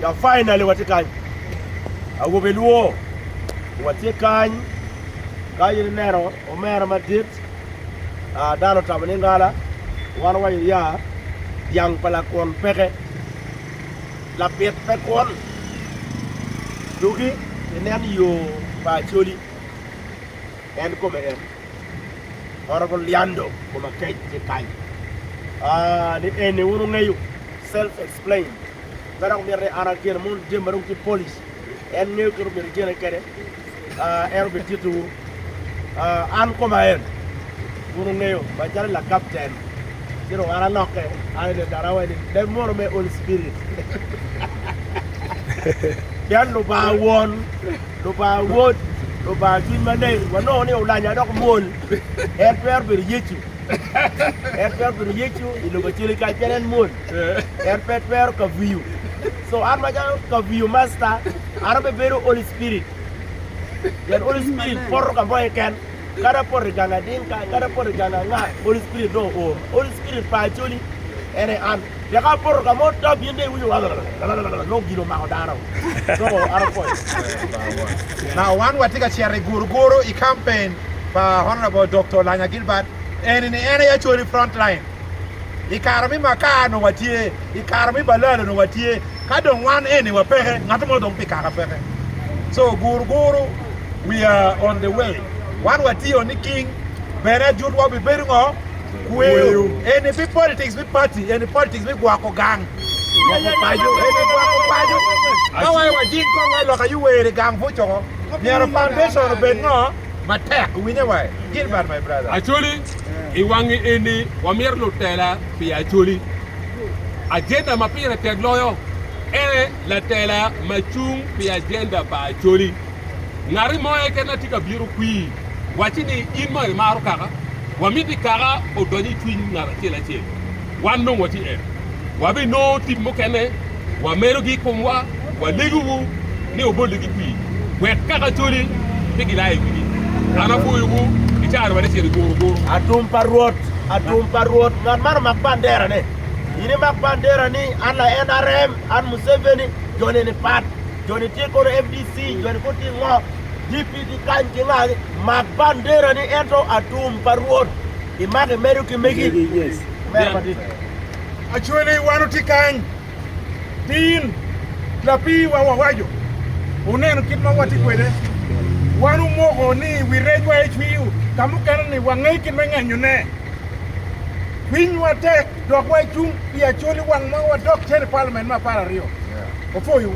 Ya finally watye kany awobe luo watye kany ka in ineno omera madit ah, dano otamo ni ngala wan wa iya dyang pa lakwon peke labit pe kwon dugi inen yo pa Acholi en kome en Honourable Liando Komakec tye kany ah, ni eni wun wungeyo self Plain. Ka dok mitte an agen mondo ijem ma dong tye polish, en ngeyo kit omyero igene kwede, en obititowu. An koma en, wun wungeyo, macalo lakapten, ci dong an alokke, an i Lindarawa eni, leb moro me Holy Spirit. Pien Lubanga Won, Lubanga Wod, Lubanga Cwiny Maleng, wanongo ni olanya dok mwol. En twero bedo Yecu. En twero bedo Yecu i lobo acel-li, kacel en mwol. en pe twero kaviyo so an macalo kaviyo masta an abe bedo Holy Spirit pien Holy Spirit poto ka moye ken kadi apoto i gang ading ka kadi apoto i gang anga Holy Spirit dong oora Holy Spirit pa Acholi en aye an teka apoto ka mo tap in dong iwinyo lalalala nongo gin omako dano nongo an apwoyo Na wan watye ka cito i guruguru i campaign pa Honourable Doktor Lanya Gilbert eni ni en aye Acholi Frontline I kare me makar onongo watye, i kare me balal onongo watye, ka dong wan eni wapeke, ngat mo dong pi kaka peke. So guru guru, we are on the way. Wan watye o niking, bene ajutwa bibedo ngo? Kweyo. Eni pi politics me party, eni politics me gwoko gang, gwoko paco, eni gwoko paco. Ka waye wajing kong wa i loka yuwer i gang buc oko, myero foundation obed ngo? Matek, iwinye waye? Gilbert my brother. I wang eni, wamito lutela pi Acholi. Ajenda ma pire tek loyo en latela ma cung pi ajenda pa Acholi. Ngati mo eken na tye ka bito kwii, wacci ni in mo imaro kaka, wamito i kaka odony i cwiny ngat acel acel. Wan dong watye en. Wabinongo tip mukene, wamelogi i komwa, walegowu ni wubolligi pii, wek kaka coli pe gilaa i wigi. An apwoyowu i caro bade cen i guru guru. Atum pa Rwot, atum pa Rwot, ngat man omak banderane. In imak banderani, an laNRM, an Museveni, joni ni pat, joni tye kono FDC, joni kut tye ngo, DP ki kany ki ngagi, mak banderani ento atum pa Rwot. Imake medo ki megi? Omera madit. Actually wan otye kany tin lapii wa wawaco oneno kit ma watye kwede wan omoko ni wi rec wa ecwiyo ka mukene ni wange kit me ngenyo ne cwiny wa tek dok wa cung pi actually wang ma wadok cene parliament me apar aryo wapoyo wu.